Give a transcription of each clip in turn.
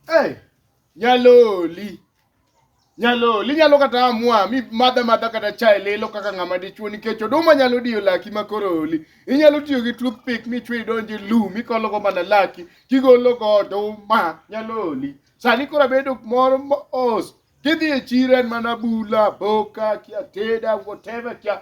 Hey, nyaloli nyalo linyalo kata amua mi madha madha kata chai lilo kaka ng'ama dichuo nikech oduma nyalo diyo laki ma koro oli inyalo tiyo gi toothpick michwe idonje lu mikologo mana laki kigologo oduma nyalo oli sani koro abedo moro mos kidhi e chiro en mana bula boka kia teda whatever kia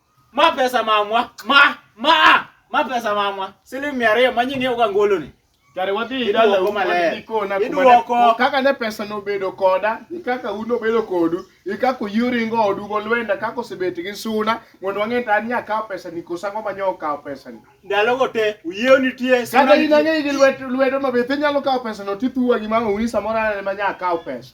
Ma pesa mamwa. Ma ma ma pesa mamwa. Siling 200 ma nyingi uga ngolo ni. Kare wadhi Iduoko dala u maler. wadhi kona kuma Iduoko. ne- kaka ne pesa nobedo koda gi kaka un nobedo kodu gi kaka yuringo odu golwenda kaka osebet gi suna mondo wang'e ta an nya kawo pesa ni koso ang'o ma nyo kawo pesa ni Ndalo go te uyiew nitie. suna kata in nitie. ang'e gi lwedo lwedo mabith inyalo kawo pesa no tithuwa gi mama uni samoro anene ma nya kawo pesa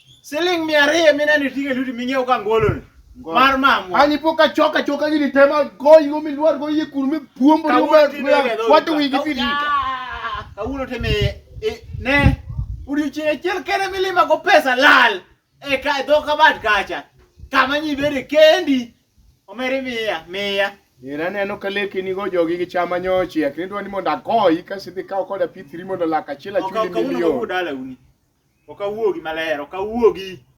Siling mia ariyo mineno iting'o e lweti ming'iewo ka ngoloni mar mamwa. An ipo ka chok achoka gini tema goyi go milwar go yie kuru mipuombo ni Kawuono uber tinde wedo wato uta. wigi Kaw- pili. Ah, Kawuono timi i- ne odiochieng' achiel kende milima go pesa lal e ka e dho kabat kacha kama nyi bede kendi Omeri miya, miya. Ira aneno ka leke nigo jogi gi chama nyochiek. Nidwa ni mondo akoyi ka sidhi kawo koda pithri mondo lak achiel achuli milion. Okawuogi maler, okawuogi.